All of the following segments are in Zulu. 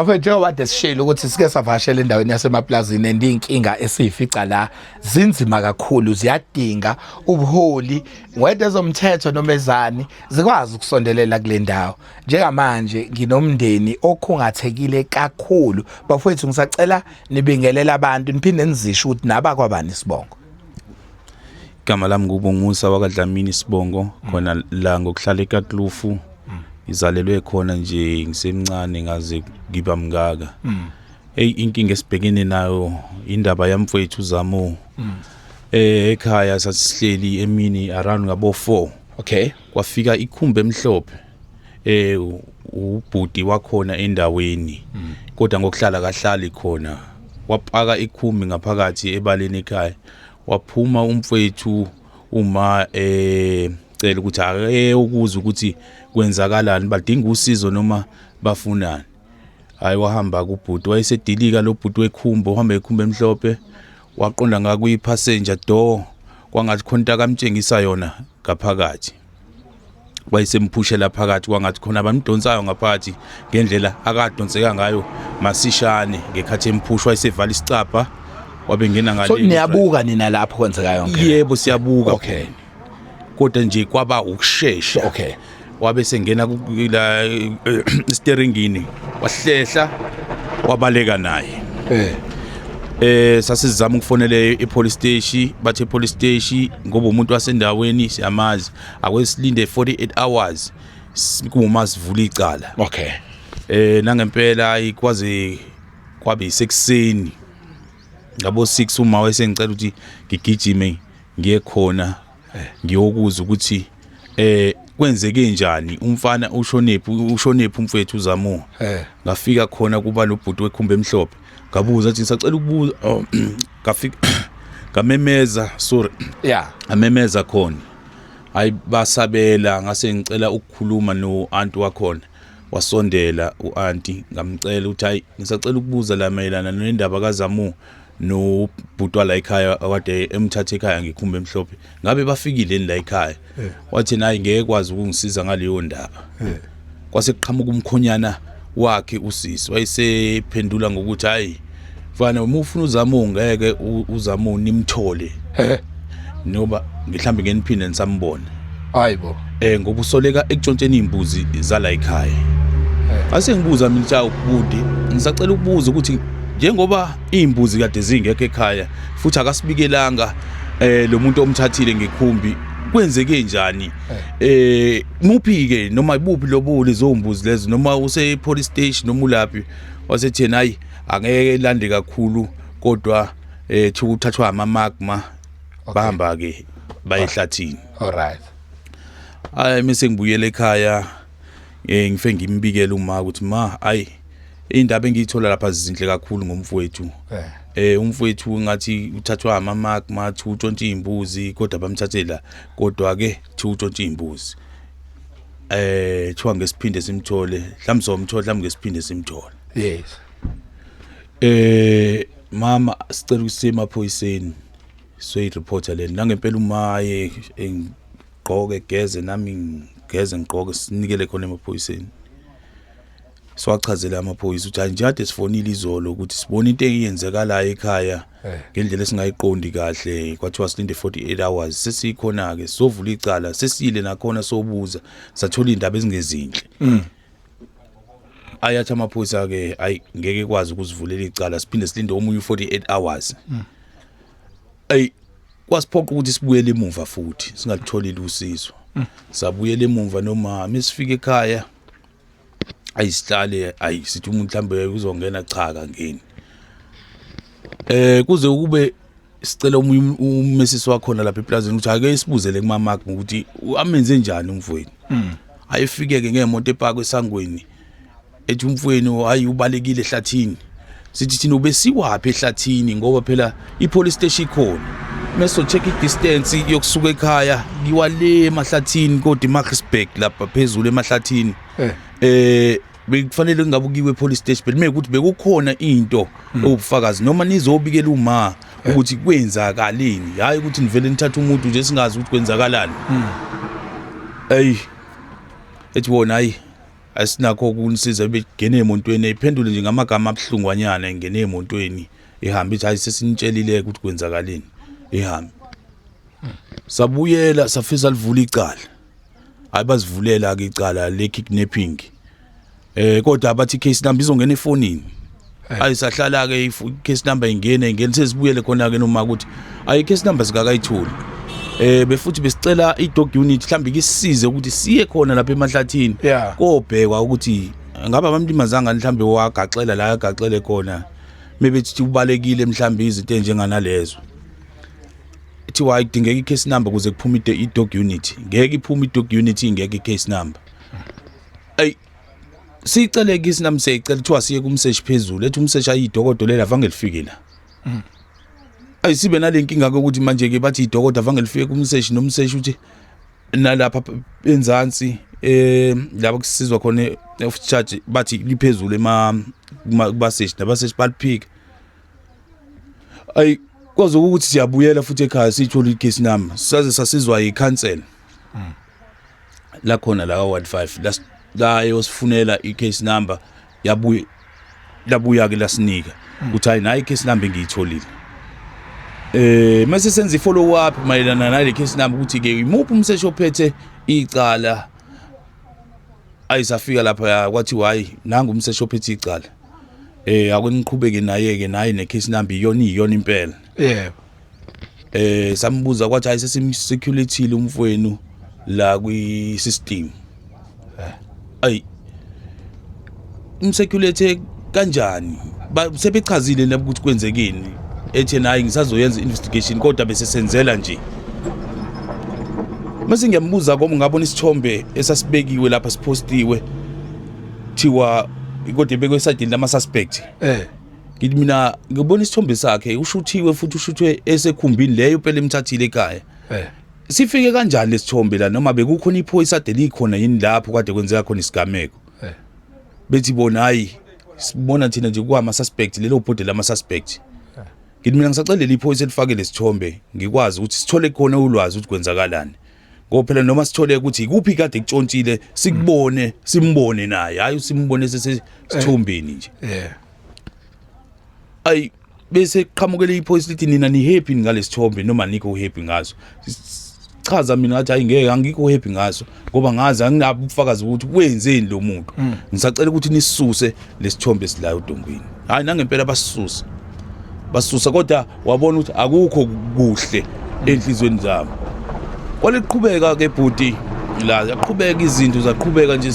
Afethu njengoba kade sishilo ukuthi sike savashela endaweni yasemaplazini and inkinga esiyifica la zinzima kakhulu ziyadinga ubuholi whether ezomthetho noma ezani zikwazi ukusondelela kule ndawo njengamanje nginomndeni okhungathekile kakhulu bafowethu ngisacela nibingelela abantu niphinde nizisho ukuthi naba kwabani sibongo Igama lami nguBongusa wakaDlamini Sibongo mm. khona la ngokuhlala eKatlufu mm. ngizalelwe khona nje ngisemncane ngaze ngiba mngaka mm. eyi inkinga esibhekene nayo indaba yamfowethu Zamo eh ekhaya sasihleli emini around ngabo 4 okay kwafika ikhumbe emhlophe eh ubhuti wakhona endaweni kodwa ngokuhlala kahlali khona wapaka ikhumbi ngaphakathi ebaleni ekhaya waphuma umfwethu uma eh cela ukuthi ake ukuza ukuthi kwenzakalani badinga usizo noma bafunani hayi wahamba kubhuti wayesedilika lo bhuti wekhumba uhamba ekhumba emhlophe waqonda ngakwi passenger door kwangathi khonta kamtshengisa yona ngaphakathi wayesemuphushela phakathi kwangathi khona abamdonsayo ngaphakathi ngendlela akadonseka ngayo masishane ngekhathi emphushwa esevala isicabha wabengena ngale so niyabuka nina lapho kwenzekayo yebo siyabuka okay kodwa nje kwaba ukushesha okay wabe sengena la eh, steeringini wahlehla wabaleka naye eh eh sasizama ukufonele ipolice station bathe police station ngoba umuntu wasendaweni siyamazi akwesilinde 48 hours kuma sivula icala okay eh nangempela ayikwazi kwabe isekuseni ngabo 6 uma wayesengicela ukuthi ngigijime ngiye khona ngiyokuzwa ukuthi eh kwenzeke njani umfana ushonephi ushonephi umfethu uzamuka eh. ngafika khona kuba lobhuti wekhumba emhlophe ngabuza athi ngisacela ukubuza oh, ngafika ngamemeza sorry yeah amemeza khona hayi basabela ngase ngicela ukukhuluma no aunt wakhona wasondela uanti ngamcela ukuthi hayi ngisacela ukubuza la mayelana nendaba kaZamu no bhuti wala ekhaya kade emthatha ekhaya ngikhumba emhlophe ngabe bafikile ni la ekhaya eh. wathi naye ngeke kwazi ukungisiza ngaleyo ndaba eh. kwase kuqhamuka umkhonyana wakhe usisi wayesephendula ngokuthi hayi mfana uma ufuna uzama ungeke uzama nimthole eh. Noba mhlawumbe ngeke niphinde nisambone. Hayi bo. Eh ngoba usoleka ekutshontsheni izimbuzi zala ekhaya. Eh. Ase ngibuza mina cha ubudi, ngisacela ukubuza ukuthi njengoba izimbuzi kade zingekho ekhaya futhi akasibikelanga eh lo muntu omthathile ngekhumbi kwenzeke njani eh muphi ke noma ibuphi lobo lezombuzi lezo noma use police station noma ulaphi wasethena hayi angeke lande kakhulu kodwa eh thuku thathwa ama magma bahamba ke bayehlathini all right ay mise ngibuyele ekhaya eh ngife ngimbikele uma ukuthi ma ay indaba engiyithola lapha zizinhle kakhulu ngomfowethu eh, eh umfowethu ngathi uthathwa ama magma thu utshontsha imbuzi kodwa bamthathela kodwa ke thu utshontsha imbuzi eh thiwa ngesiphinde simthole mhlawumbe somthola mhlawumbe ngesiphinde simthole yes Eh mama sicela ukusima phoyiseni soyi reporter leni nangempela umaye engigqoke geze nami ngeze ngigqoke sinikele khona emaphoyiseni siwachazele amaphoyisa ukuthi anjade sifonile izolo ukuthi sibona into eyenzekalayo ekhaya eh. ngendlela esingayiqondi kahle kwathiwa silinde 48 hours sesikhona ke sovula icala sesile nakhona sobuza sathola indaba ezingezinhle mm. ayathi amaphoyisa ke ayi ngeke kwazi ukuzivulela icala siphinde silinde omunye u48 hours ayi kwasiphoqa ukuthi sibuyele emuva futhi singatholile usizo sabuyela emuva noma mesifika ekhaya ayisihlale ayi sithi umuntu mhlambe uzongena cha kangeni eh kuze kube sicela omunye um-, umesisi wakhona lapha eplazini ukuthi ake isibuzele kumamak ngokuthi amenze njani umfweni hmm. ayefike-ke ngemoto epakwe esangweni ethi umfweni hayi ubalekile ehlathini sithi thina ubesiwaphi ehlathini ngoba phela i-police station ikhona mesocheck i-distance yokusuka ekhaya ngiwale emahlathini kodwa imarksburg lapha phezulu emahlathini eh, eh bekufanele kungabe ukiwe police station but mekuthi bekukhona into hmm. ewubufakazi noma nizobikela uma ukuthi kwenzakaleni hayi ukuthi nivele nithathe umuntu nje singazi ukuthi kwenzakalani hmm. ayi ethi wona ayi asinakho ukunisiza ebegene emontweni ephendule nje ngamagama abuhlungwanyana engene emontweni ihamba ithi hayi sesinitshelile ukuthi kwenzakaleni ihambe sabuyela safisa livula icala hayi bazivulela ke icala le kidnapping eh kodwa abathi case number izongena efonini hayi sahlala ke if case number ingene ingene sesibuyele khona ke noma ukuthi ayi case number sikakayitholi eh befuthi besicela i dog unit mhlambi kisize ukuthi siye khona lapha emahlathini Yeah. kobhekwa ukuthi ngabe abamlimazanga mhlambi wagaxela la agaxele khona mebethi ubalekile mhlambi izinto enjenganalezo kuthiwa idingeka i-case number ukuze kuphume i-dog unit ngeke iphume i-dog unit ingeke i-case number ayi siyicele kisi nami siyayicela kuthiwa siye kumseshi phezulu ethi umseshi ayidokodo lela vange lifike la mm. ayi sibe nale nkinga kokuthi manje-ke bathi idokodo vange lifike kumseshi nomseshi uthi nalapha enzansi eh lapho kusizwa khona of charge bathi liphezulu ema kubaseshi nabaseshi baliphika ayi kwaze ukuthi siyabuyela futhi ekhaya siyithola i-case number saze sasizwa yi-council hmm. la khona la ward 5 la yosifunela i-case number yabuya labuya ke lasinika hmm. ukuthi hayi nayi i-case number engiyitholile eh mase senza i-follow up mayelana nale case number ukuthi ke imuphi umseshi ophethe icala ayisafika lapha kwathiwa hayi nangu umseshi ophethe icala eh akuniqhubeke naye ke naye ne case number iyona iyona impela yebo eh sambuza kwathi hayi sesimsecurity umfowenu la kwi system eh. ay umsecurity kanjani sebechazile nabo ukuthi kwenzekeni ethi nayi ngisazoyenza investigation kodwa bese senzela nje mase ngiyambuza komu ngabona isithombe esasibekiwe lapha siphostiwe thiwa kodwa ebekwe esadini lama suspect eh ngithi mina ngibona isithombe sakhe ushuthiwe futhi ushuthwe esekhumbini leyo phela emthathile ekhaya eh sifike kanjani lesithombe la noma bekukhona iphoyisa de likhona yini lapho kade kwenzeka khona isigameko eh bethi bona hayi sibona thina nje kwama suspect lelo bhodi lama suspect eh. ngithi mina ngisaxelela iphoyisa elifake lesithombe ngikwazi ukuthi sithole khona ulwazi ukuthi kwenzakalani ngoba phela noma sithole ukuthi ikuphi kade kutshontshile sikubone simbone naye hayi usimbone sesithombeni nje yeah ay bese qhamukele iphoyisa lithi nina ni happy ngalesithombe noma nikho happy ngaso chaza mina ngathi hayi ngeke angikho happy ngaso ngoba ngazi anginabo ubufakazi ukuthi wenzeni lo muntu hmm. ngisacela ukuthi nisuse lesithombe esilayo udongwini hayi nangempela basisusa basusa kodwa wabona ukuthi akukho kuhle enhlizweni zabo kwaliqhubeka ke bhuti la yaqhubeka izinto zaqhubeka nje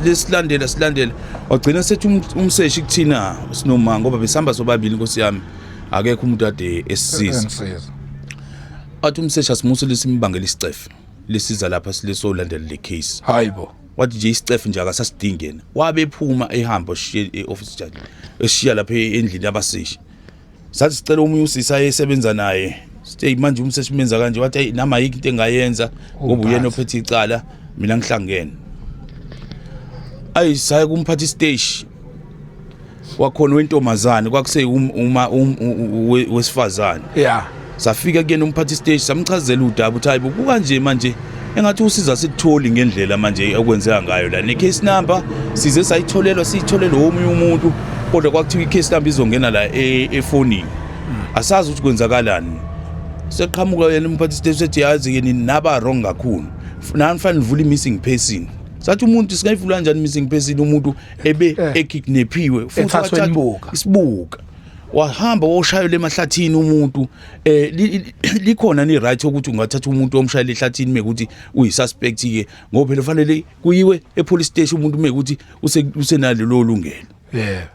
lesilandela silandela wagcina sethi um, umseshi kuthina sinomanga ngoba besihamba sobabili inkosi yami akekho umuntu ade esisiza athi umseshi asimusile simbangela isicefe lisiza lapha silesolandela le case hayibo wathi nje isicefe nje akasasidingi yena wabe ephuma ehamba oshiye e-office judge eshiya lapha endlini yabasishi sathi sicela omunye usisi ayesebenza naye sithe manje umseshi menza kanje wathi ayi nami ayikho into engayenza ngoba uyena ophethe icala mina ngihlangene ayi saye kumphathi stage wakhona wentombazane kwakuse um, uma um, wesifazane yeah safika kuyena umphathi isiteshi samchazela udaba ukuthi hayibo kukanje manje engathi usiza sikutholi ngendlela manje okwenzeka ngayo la ne-case number size sayitholelwa siyitholelwe womunye umuntu kodwa kwakuthiwa i-case number izongena la e, efonini hmm. asazi ukuthi kwenzakalani seqhamuka yena umphathi isiteshi sethi yazi yini naba wrong kakhulu nanifanele nivule i-missing person sathi umuntu singayivula njani missing person umuntu ebe Eh. ekidnaphiwe futhi Ethathwe wathathwa imbuka. isibuka wahamba woshayela emahlathini umuntu eh li- li- likhona ni right ukuthi ungathatha umuntu omshayela ehlathini mekuthi uyisuspect ke ngoba phela fanele kuyiwe epolice station umuntu mekuthi use- usenalelo lungelo yeah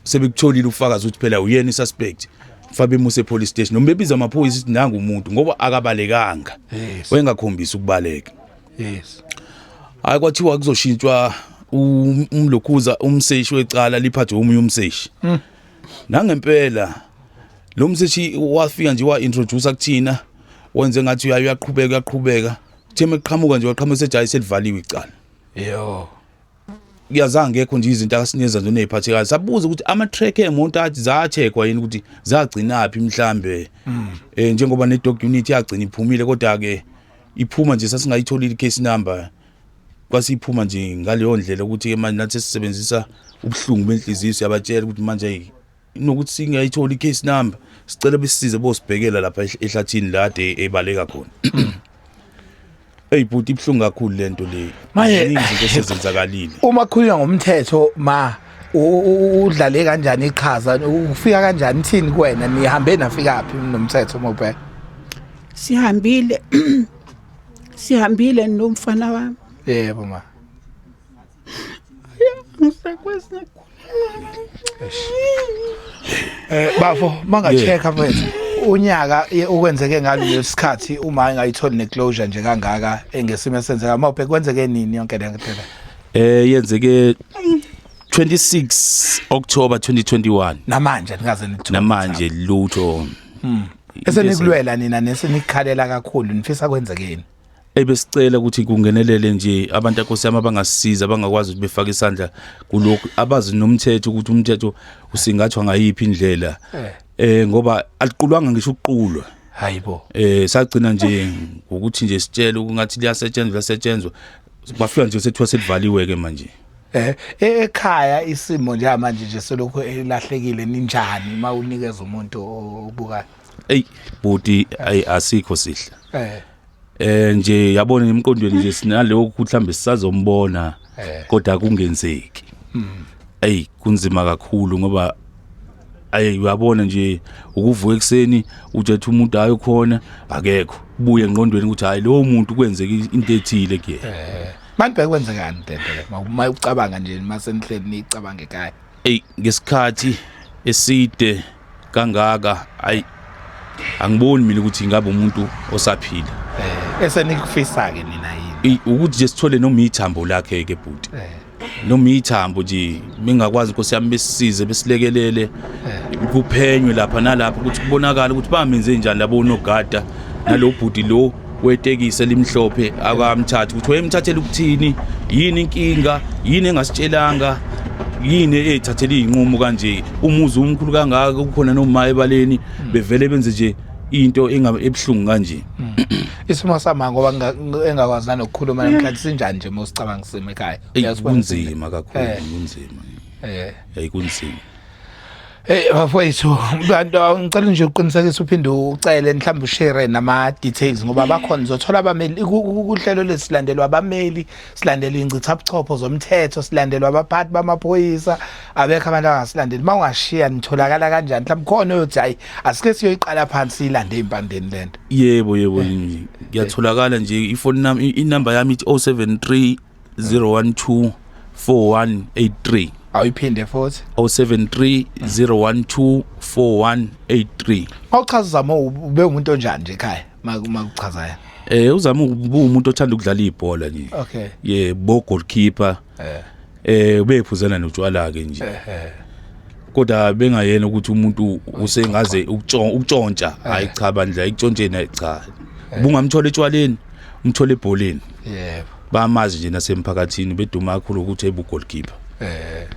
sebekutholile ufakazi ukuthi phela uyena isuspect fabe muse police station noma bebiza amaphoyisa ukuthi nangu umuntu ngoba akabalekanga Yes. wayengakhombisi ukubaleka yes hayi kwathiwa kuzoshintshwa um- umlokhuza umseshi wecala liphathwe omunye umseshi Hmm. nangempela lo mseshi wafika nje wa-introduce kuthina wenze ngathi uyaye uyaqhubeka uyaqhubeka kuthe uma kuqhamuka nje waqhamuka sejayise livaliwe icala yo kuyazange ngekho nje izinto akasineza nje neziphathekayo sabuza ukuthi ama track emonto athi zacheckwa yini ukuthi zagcina phi mhlambe mm. eh njengoba ne dog unit yagcina iphumile kodwa ke iphuma nje sasingayitholile case number kwasiphuma nje ngaleyo ndlela ukuthi ke manje nathi sisebenzisa ubuhlungu benhliziyo siyabatshela ukuthi manje nokuthi singayithola i-case number sicela besisize bosibhekela lapha ehl- ehlathini lade ebaleka khona eyi bhuti ibuhlungu kakhulu le nto le Manje- Ziningi izinto esezenzakalile uma kukhulunywa ngomthetho ma u- u- udlale kanjani iqhaza ufika kanjani thini kuwena nihambe nafikaphi nomthetho uma ubheka sihambile sihambile nomfana wami yebo ma ngisakwazi Eh bafo mangacheka mfethu unyaka ye- okwenzeke ngalo lesikhathi uma engayitholi neclosure nje kangaka engesimo esenzeka mawubhe kwenzeke nini yonke le nto le? eh yenzeke 26 October 2021 namanje nikaze nithu namanje lutho esenikulwela nina nesenikhalela kakhulu nifisa kwenzekeni ebesicela ukuthi kungenelele nje abantu akosi yami abangasisiza abangakwazi ukuthi befake isandla kulokhu abazi nomthetho ukuthi umthetho usingathwa ngayiphi indlela eh, eh ngoba aliqulwanga ngisho ukuqulwa hayibo eh sagcina nje ngokuthi nje sitshele ukuthi liyasetshenzwa liyasetshenzwa bafika nje sethiwa selivaliwe ke manje eh e, ekhaya isimo nje manje nje selokhu elahlekile ninjani mawunikeza umuntu obukayo ey buti ayi asikho sihle eh eh nje yabona emqondweni nje sinaloko ukuthi mhlambe sisazombona eh. kodwa kungenzeki hey hmm. kunzima kakhulu ngoba ayi uyabona nje ukuvuka ekseni ujethi umuntu ayo khona akekho buye enqondweni ukuthi hayi lowo muntu kwenzeka into ethile kuyena eh. manje bekwenzekani dede uma ucabanga nje mase nihleli nicabange ekhaya Ey ngesikhathi eside kangaka ay angiboni mina ukuthi ingabe umuntu osaphila. Eh, esenikufisa ke nina yini? Ukuthi nje sithole noma ithambo lakhe ke bhuti. Eh. Noma ithambo nje mingakwazi inkosi yami besisize besilekelele eh. kuphenywe lapha nalapha ukuthi kubonakala ukuthi bamenze njani labo nogada nalobhuti lo wetekisi elimhlophe akamthathi ukuthi wayemthathela ukuthini yini inkinga yini engasitshelanga yini eyithathela iyinqumo kanje umuzi umkhulu kangaka kukhona noma ebaleni bevele benze nje into ebuhlungu kanje hmm. isimo sama ngoba engakwazi nanokukhuluma namhlanje sinjani nje mosicabanga sima ekhaya kunzima kakhulu eh. kunzima eh ayikunzima Hey bafowethu abantu ngicela nje uqinisekise uphinde ucele mhlawumbe ushare nama details ngoba bakhona uzothola abameli kuhlelo lesilandelwa abameli silandelwa ingcitha buchopho zomthetho silandelwa abaphathi bamaphoyisa abekho abantu abangasilandeli uma ungashiya nitholakala kanjani mhlawumbe khona oyothi hayi asike siyoyiqala phansi ilande impandeni lento yebo yebo ngiyatholakala nje ifoni nami inamba yami ithi 073 012 4183 awuyiphinde futhi 073 012 4183 mawuchaza uzama ube umuntu onjani nje ekhaya makuchaza yena eh uzama umuntu othanda ukudlala ibhola nje okay ye bo goalkeeper eh eh ubephuzana notshwala ke nje eh, eh. kodwa bengayena ukuthi umuntu usengaze ukutshontsha eh. hayi cha bandla ikutshontshe nayi cha ubungamthola etshwaleni umthola ebholeni yebo bamazi nje nasemphakathini beduma kakhulu ukuthi ebugolkipa eh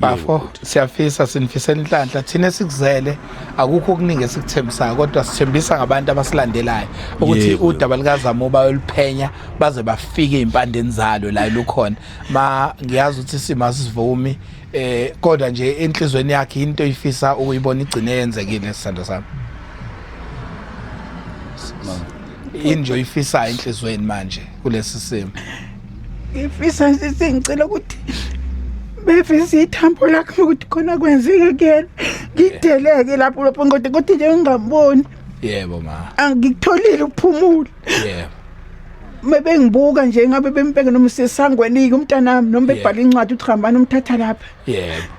bafo siyafisa sinifisela inhlanhla thina esikuzele akukho okuningi esikuthembisayo kodwa sithembisa ngabantu abasilandelayo ukuthi udaba likazamo bayoluphenya baze bafike ezimpandeni zalo la lukhona ma ngiyazi ukuthi isimo sivumi eh kodwa nje enhlizweni yakhe into ifisa ukuyibona igcine yenzekile sisando sami yini nje oyifisayo enhliziyweni manje kulesi simo ngifisa nje sengicela ukuthi befisa ithambo lakhe ukuthi khona kwenzeke kuyena ngideleke lapho lapho kodwa kodwa nje ngingamboni yebo ma angikutholile ukuphumula yebo mebengibuka nje ngabe bembheke noma sesangwenike umntanami noma bebhala incwadi uthi hambani umthatha lapha yebo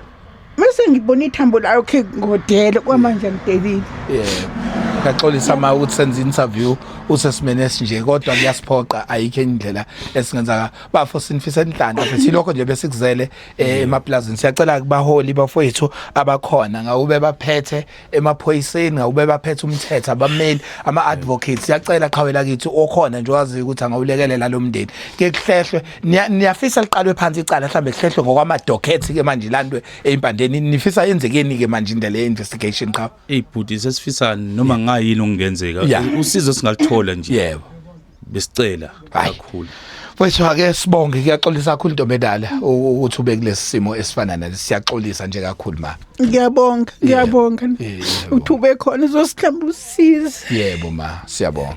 Mase ngibona ithambo layo khe ngodele kwamanje ngidelile. Yeah. Ngaxolisa ma ukuthi senza interview usesimene esinje kodwa kuyasiphoqa ayikho indlela esingenza ngayo. Bafo sinifisa inhlanhla futhi lokho nje besikuzele eh, emaplazini. Siyacela kubaholi bafowethu abakhona ngawube baphethe emaphoyiseni ngawube baphethe umthetho abameli ama advocates siyacela qhawe lakithi okhona nje waziyo ukuthi angawulekelela lo mndeni ke kuhlehlwe niya- niyafisa liqalwe phansi icala mhlambe kuhlehlwe ngokwama docket ke manje landwe empandeni nifisa yenzekeni ke manje indlela ye investigation qhawe Ey bhuti sesifisa noma ngayini okungenzeka. Yeah. Usizo singaluthola nje. yebo besicela kakhulu mfethu ake sibonge kuyaxolisa kakhulu intombi edala ukuthi ube kulesi simo esifana nale siyaxolisa nje kakhulu ma ngiyabonga ngiyabonga uthi ube khona uzosihlamba usize yebo ma siyabonga